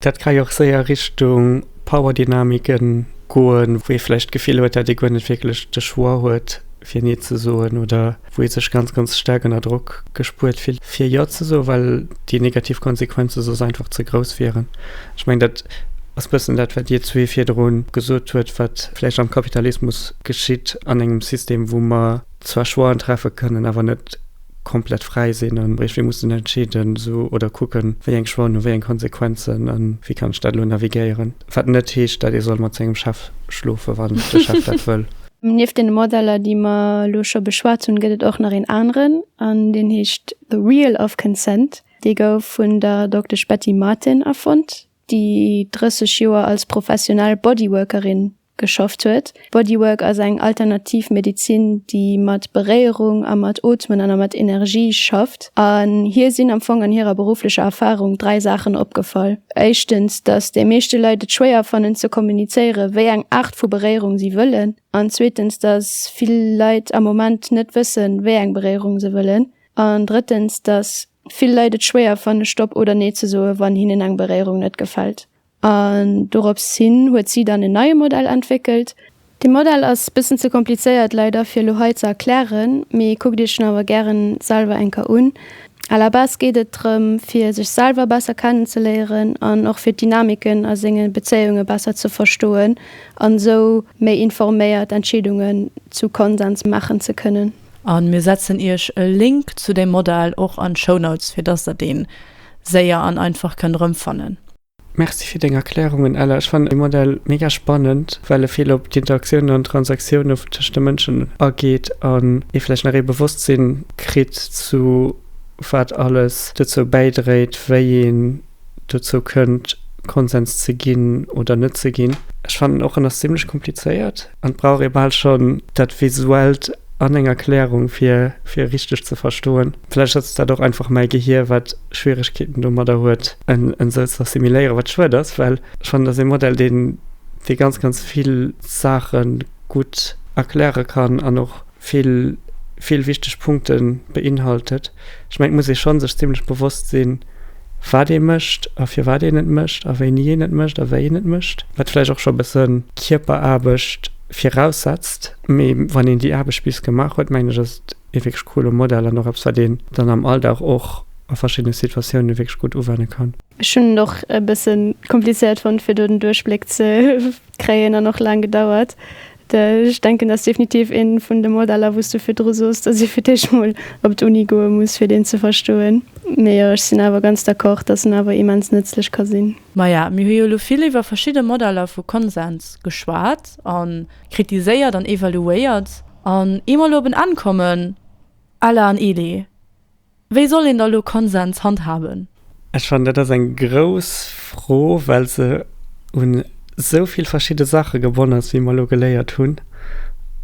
Speaker 2: Dat ka jo och
Speaker 1: séier Richtung Powerdynamiken goen, wou ee vläicht d'Gefill huet, dat ee guer net wierklech de Choix huet, fir Nee ze soen, oder wou ee sech ganz, ganz staark ënner Drock gespuert fillt, fir Jo ze soen, well déi negativ Konsequenze soss einfach ze grouss wieren. Ech mengen, dat ass bëssen dat, wat Dir zwee virdru gesot hutt, wat vläicht am Kapitalismus geschitt, an engem System, wou mer zwar Choixen treffe kënnen, awer net, komplett fräi sinn an iergendwéi mussen entscheeden oder kucken, wéi eng Schwallen hu wéi eng Konsequenzen an wéi kann ech dat elo navigéieren. Wat net heescht, datt ee soll mat sengem Chef schlofen, wann de Chef dat wëll. Nieft deene Modeller,
Speaker 2: déi mer elo scho beschwat hunn, gëtt et och nach een aneren an deen heescht The Wheel of Consent. Dee gouf vun der Doktesch Betty Martin erfonnt, déi 30 Joer als professionell Bodyworkerin geschafft huet. Bodywork ass eng alternativ Medezin, déi mat Beréierung a mat Ootmen an a mat Energie schafft. An hir sinn am Fong an hirer berufflecher Erfarung dräi Saachen opgefall. Éischtens, datt déi meeschte Leit et schwéier fannen ze kommunizéiere wéi eng Aart vu Beréierung si wëllen. An zweetens, datt vill Leit am Moment net wësse wéi eng Beréierung se wëllen. An drëttens, datt vill Leit et schwéier fanne Stopp oder Nee ze soe wann hinnen eng Beréierung net gefält. An dorops hin huet si dann en neie Modell entwéckelt. Dee Modell ass bëssen ze komplizéiert leider fir elo hei ze erklären, mee kuckt iech en awer gären selwer eng Kéier un. À la base geet et drëm fir sech selwer besser kennenzeléieren an och fir d'Dynamiken a senge Bezéiunge besser ze verstoen an esou méi informéiert Entscheedungen zu Konsens maachen ze kënnen. A mir setzen
Speaker 3: iech e Link zu dem Modell och an d'Shownotes, fir dass der deen séier an einfach kënnt erëmfannen. Merci fir
Speaker 1: deng Erklärungen, Ella. Ech fannen de Modell mega spannend, well e vill op d'Interaktioune an d'Transaktiounen tëscht de Mënschen ageet an ee vläicht nach ee Bewosstsinn kritt, zu wat alles dozou bäidréit, wéi een dozou kënnt Konsens ze ginn oder net ze ginn. Ech fannen och en ass zimlech komplizéiert an et brauch ee bal schonn dat Visuellt an eng Erklärung fir fir e richteg ze verstoen. Vläicht ass dat och einfach mäi Gehier wat Schwieregkeeten domadder huet en en esou ze assimiléieren, wat schued ass, well ech fannen et ass ee Modell deen dee ganz ganz vill Saache gutt erkläre kann an och vill, vill wichteg Punkte beinhaltet. Ech mengen, et muss ee schonn sech zimmlech bewosst sinn, wat ee mécht a firwat een et mécht a wéini een et mécht a wéi een et mécht. Wat vläicht och scho e bësse Kierperaarbecht viraussetzt, mee wann een déi Aarbecht bis gemaach huet, mengen ech, ass et ee wierklech coole Modell an och eppes, wat een dann am Alldag och a verschiddene Situatioune wierklech gutt uwenne kann. Ech hunn et och e
Speaker 2: bësse komplizéiert fonnt, fir do den Duerchbléck ze kréien an och laang gedauert. Ech denken dat ass definitiv ee vun de Modeller wou s du virdru soss, datt ee fir d'éischt mol op d'Uni goe muss fir deen ze verstoen. Mee jo ech sinn awer ganz d'accord, datt en awer immens nëtzlech ka sinn. Maja, mir hu jo elo
Speaker 3: vill iwwer verschidde Modeller vu Konsens geschwat a kritiséiert an evaluéiert an ier mer elo op en Enn kommen, Ella an Elie, Wéi soll een da lo Konsens handhaben? Ech fannen, dat ass
Speaker 1: eng grouss Fro, well se un esou vill verschidde Saache gebonne ass, wéi mer elo geléiert hunn.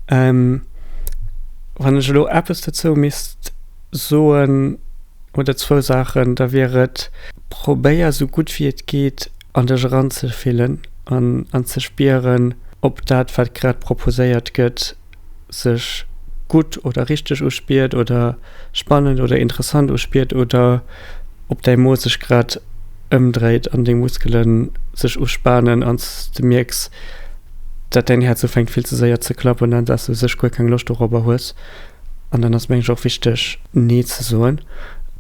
Speaker 1: Wann ech elo eppes dozou misst soen oder zwou Saachen, da wier et, Probéier esou gutt wéi et geet an dech eranzefillen an ze spieren, ob dat, wat grad proposéiert gëtt, sech gutt oder richteg uspiert oder spannend oder interessant uspiert oder ob däi Mo sech grad ëmdréit an deng Muskele sech uspanen an s de mierks, datt däin Häerz ufänkt vill ze séier ze klappen an datt s de u sech guer keng Loscht dorobber hues. An dann ass meng ech och wichteg nee ze soen.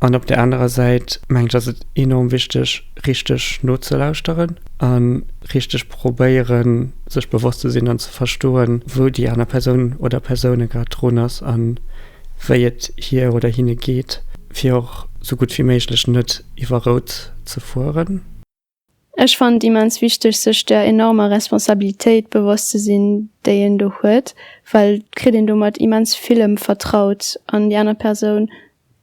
Speaker 1: An op där anerer Säit meng ech ass et enorm wichteg, richteg nozelauschteren a richteg probéieren, sech bewosst ze sinn an ze verstoen, wou déi aner Persoun oder Persoune grad drun ass a wéi et hir oder hinne geet, fir och sou gutt wéi méiglech net iwwer Rout ze fueren. Ech
Speaker 2: fannen et immens wichteg, sech der enormer Responsabilitéit bewosst ze sinn, déi een do huet, well et kritt een domat immens villem vertraut an déi aner Persoun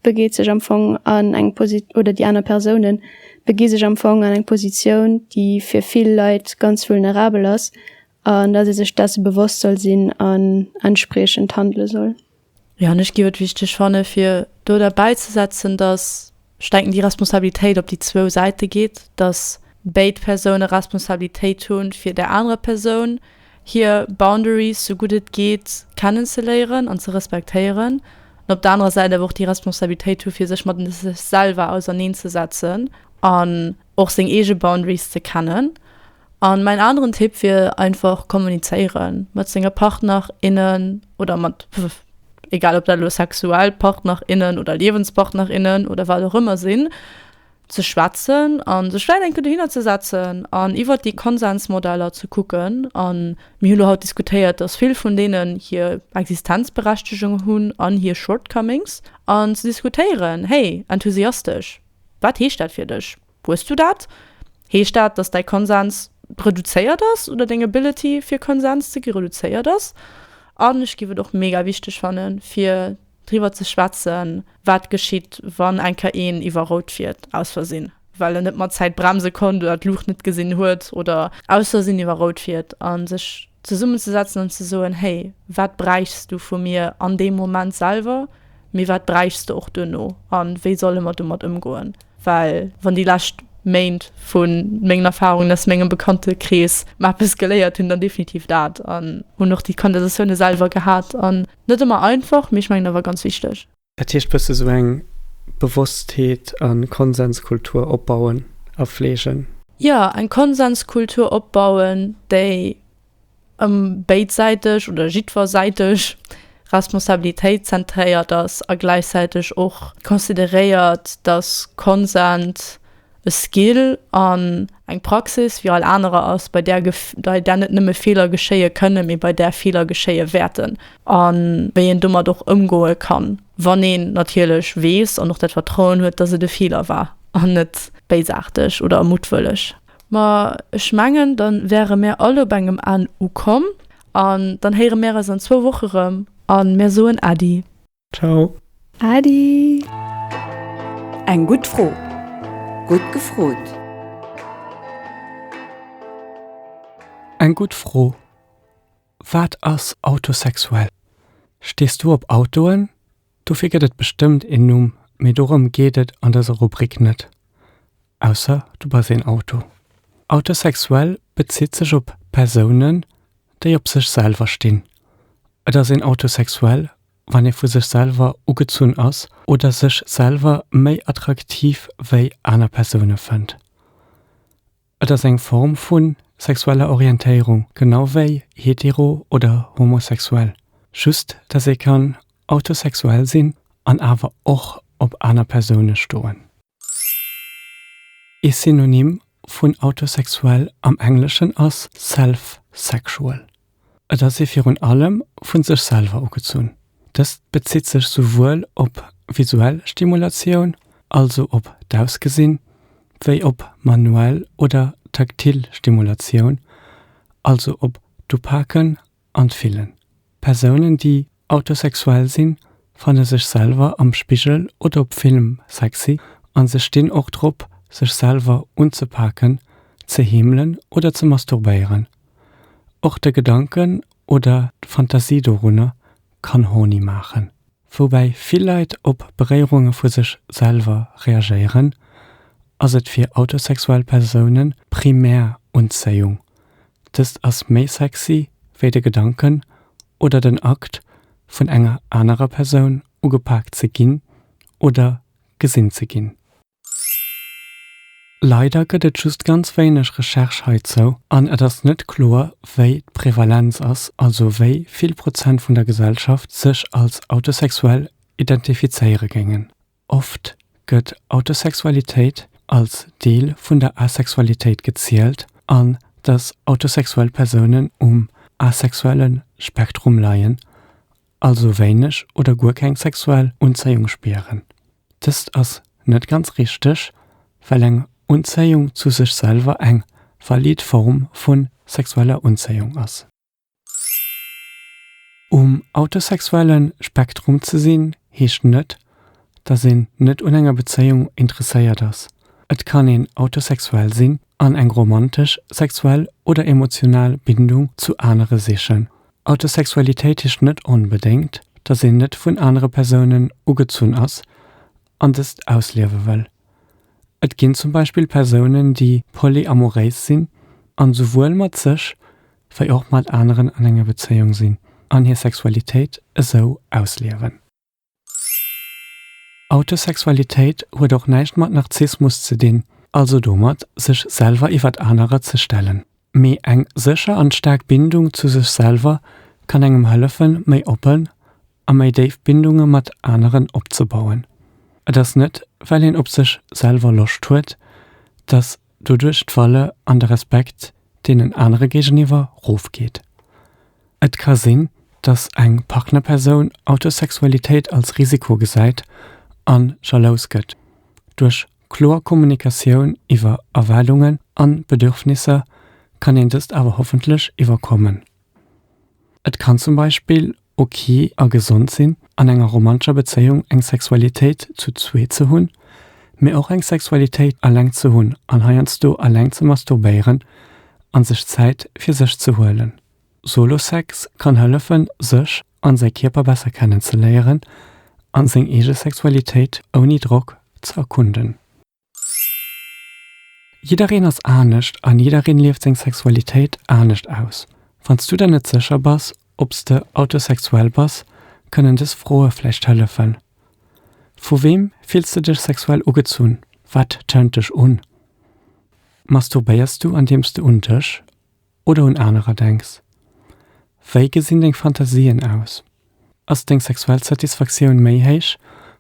Speaker 2: begeet sech am Fong an eng Posi oder déi aner Persounen begi sech am Fong an eng Positioun, déi fir vill Leit ganz vulnerabel ass, an dass ee sech dessen bewosst soll sinn an entspriechend handele soll. Jo, an ech géif
Speaker 3: et wichteg fanne fir do derbäizesetzen, dass ech denken, déi Responsabilitéit op déi zwou Säite geet, dass béid Persoune Responsabilitéit hu fir där anerer Persoun, hir Boundaries sou gutt et geet kennen ze léieren an ze respektéieren, an op der anerer Säit awer och déi Responsabilitéit hu fir sech mat sech selwer auserneen ze setzen an och seng eege Boundaries ze kennen. An mäin aneren Tipp wier einfach kommunizéiere mat senge Partner, innen oder mat egal ob dat elo sexuell Partner, innen oder Liewenspartner, innen oder wat och ëmmer sinn. ze schwätzen a sech vläicht eng Kéier dohinner ze setzen an iwwert déi Konsensmodeller ze kucken. A mir hu lo haut diskutéiert, dass vill vun deenen hir Existenzberechtegung hunn an hir Shortcomings. An ze diskutéieren, Hey, enthusiastesch, wat heescht dat fir dech? Hues du dat? Heescht dat, dass däi Konsens reduzéiert ass oder deng Ability fir Konsens ze gi reduzéiert ass? An ech géif et och mega wichteg fannen, fir. Driwwer ze schwätzen, wat geschitt, wann eng Kéier een iwwer Rout fiert, aus Versinn, well en net mat Zäit bremse konnt oder d'Luucht net gesinn huet oder aus Versinn iwwer Rout fiert, a sech zesummenzesetzen an ze soen, Hey, wat bräichs du vu mir an deem Moment selwer, mee wat bräichs du och duerno a wéi solle mer domat ëmgoen? Well wann déi lescht Méint vu mengen Erfarungen aus mengem Bekanntekrees mer eppes geléiert hunn, dann definitiv dat. An hunn och déi Conversatioune selwer gehat. Net ëmmer einfach, mee ech mengen awer ganz wichteg. Dat heescht bësse sou
Speaker 1: eng Bewosstheet a Konsenskultur opbauen a fleegen. Jo, eng
Speaker 3: Konsenskultur opbauen, déi ëm béidsäiteg oder jiddwersäiteg Responsabilitéit zentréiert ass a gläichzäiteg och consideréiert, datt Konsens, e Skill an eng Praxis wéi all anerer ass, bei där bei där net nëmme Feeler geschéie kënnen, mee bei där Feeler geschéie wäerten a wéi een domat och ëmgoe kann, wann een natierlech weess an och dat Vertrauen huet, dass et e Feeler war an net béisaarteg oder muttwëlleg. Ma ech mengen, da wäre mär all op engem Enn ukomm an dann héiere mär eis an zwou Woche rëm a mär soen Äddi. Ciao.
Speaker 1: Adi!
Speaker 4: Eng gutt Fro! Gutt gefrot!
Speaker 1: Eng gutt Fro! Wat ass autosexuell? Stees du op Autoen? Dofir gëtt et bestëmmt een Numm, mee dorëm geet et an dëser Rubrik net. Ausser du bass een Auto. Autosexuell bezitt sech op Persounen, déi op sech selwer stinn. Et ass een autosexuell, wann ee vu sech selwer ugezunn ass oder sech selwer méi attraktiv wéi aner Persoune fënnt. Et ass eng Form vu sexueller Orientéierung, genau wéi hetero oder homosexuell, just dass ee kann autosexuell sinn an awer och op aner Persoune stoen. Ee Synonym vun autosexuell am Engleschen ass self-sexual. Et ass ee virun allem vu sech selwer ugezunn. Dëst bezitt sech souwuel op visuell Stimulatioun, also op d'Ausgesinn, wéi op manuell oder taktil Stimulatioun, also op d'Upaken an d'Fillen. Persounen, déi Autosexuell sinn, fanne sech selwer am Spigel oder op Film sexy an se stinn och drop sech selwer unzepaken, ze heemelen oder ze masturbéieren. Och de Gedanken oder d'Fantasie dorunner kann horny maachen. Woubäi vill Leit op Beréierunge vu sech selwer reagéieren, ass et fir autosexuell Persoune primär Unzéiung, Dëst ass méi sexy wéi de Gedanken oder den Akt vun enger anerer Persoun ugepaakt ze ginn oder gesinn ze ginn. Leider gëtt et just ganz wéineg Recherche heizou an et ass net kloer wéi d'Prevalenz ass, also wéi vill Prozent vun der Gesellschaft sech als autosexuell identifizéiere géingen. Oft gëtt Autosexualitéit als Deel vun der Asexualitéit gezielt an dass autosexuell Persounen um asexuelle Spektrum leien, also wéineg oder guer keng sexuell Unzéiung spieren. Dëst ass net ganz richteg, well eng Unzéiung zu sech selwer eng valid Form vu sexueller Unzéiung ass. Um autosexuelle Spektrum ze sinn, heescht net, dass een net un enger Bezéiung interesséiert ass. Et kann een autosexuell sinn an eng romantesch, sexuell oder emotional Bindung zu anere sichen. Autosexualitéit heescht net onbedéngt, dass een net vun anere Persounen ugezunn ass an dëst ausliewe wëll. Et ginn zum Beispill Persounen, déi polyamoréis sinn an souwuel mat sech wei och mat aneren an enger Bezéiung sinn an hir Sexualitéit esou ausliewen. Autosexualitéit huet och näischt mat Narzissmus ze dinn, also domat sech selwer iwwert anerer ze stellen, mee eng sécher an staark Bindung zu sech selwer kann engem hëllefen méi oppen a méi déif Bindunge mat aneren opzebauen. Et ass net, well een op sech selwer Loscht huet, datt doduerch d'Valeur an de Respekt deenen anere géigeniwwer rofgeet. Et ka sinn, datt eng Partnerpersoun Autosexualitéit als Risiko gesäit a jalous gëtt. Duerch kloer Kommunikatioun iwwer Erwaardungen a Bedürfnisser kann een dëst awer hoffentlech iwwerkommen. Et kann zum Beispill ok a gesond sinn, an enger romantescher Bezéiung eng Sexualitéit zu zwee ze hunn, mee och eng Sexualitéit eleng ze hunn an heiansdo eleng ze masturbéieren a sech Zäit fir sech ze huelen. Solo-Sex kann hëllefen, sech an säi Kierper besser kennenzeléieren an seng eege Sexualitéit ouni Drock ze erkunden. Jiddereen ass anescht an jiddereen lieft seng Sexualitéit anescht aus. Wanns du der net sécher bass obs de autosexuell bass, kënnen des Froe vläicht hëllefen. Vu weem fills de dech sexuell ugezunn? Wat turnt dech un? Masturbéiers du andeems de un dech. oder un anerer denks? Wéi gesinn deng Fantasien aus? Ass deng sexuell Satisfaktioun méi héich,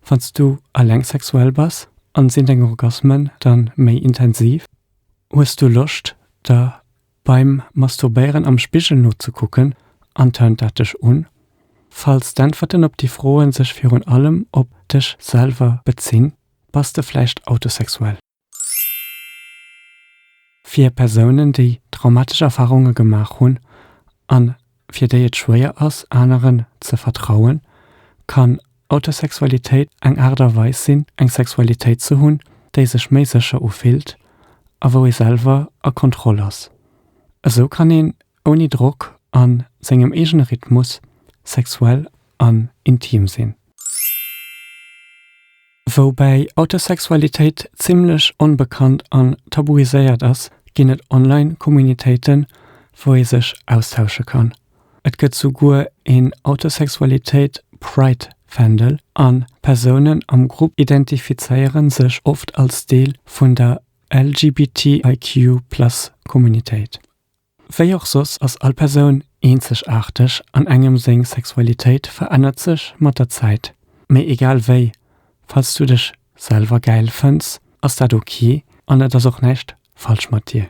Speaker 1: wann s du eleng sexuell bass? An sinn deng Orgasmen dann méi intensiv? Hues du Loscht der beim Masturbéieren am Spigel nozekucken an turnt dat dech un? Falls d'Äntwerten op déi Froen sech virun allem op dech selwer bezinn, bass de vläicht autosexuell. Fir Persounen, déi traumatesch Erfarunge gemaach hunn a fir déi et schwéier ass, aneren ze vertrauen, kann Autosexualitéit eng Aart a Weis sinn, eng Sexualitéit ze hunn, déi sech méi sécher ufillt a wou ee selwer a Kontroll ass. Esou kann een Ouni Drock, an sengem eegene Rhythmus, sexuell an intim sinn. Woubäi Autosexualitéit zimmlech onbekannt an tabuiséiert ass, ginn et online Communitéiten, wou ee sech austausche kann. Et gëtt souguer een Autosexualitéit Pride Fändel, an Persounen am Grupp identifizéiere sech oft als Deel vun der LGBTIQ Plus Communitéit. Wéi och soss ass all Persoun eenzegaarteg an engem seng Sexualitéit verännert sech mat der Zäit. Mee egal wéi, falls du dech selwer gäil fënns, ass dat ok an et ass och näischt falsch mat dir.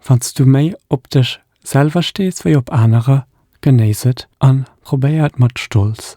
Speaker 1: Wann s du méi op dech selwer stees wéi op anerer, genéiss et an probéier et mat Stolz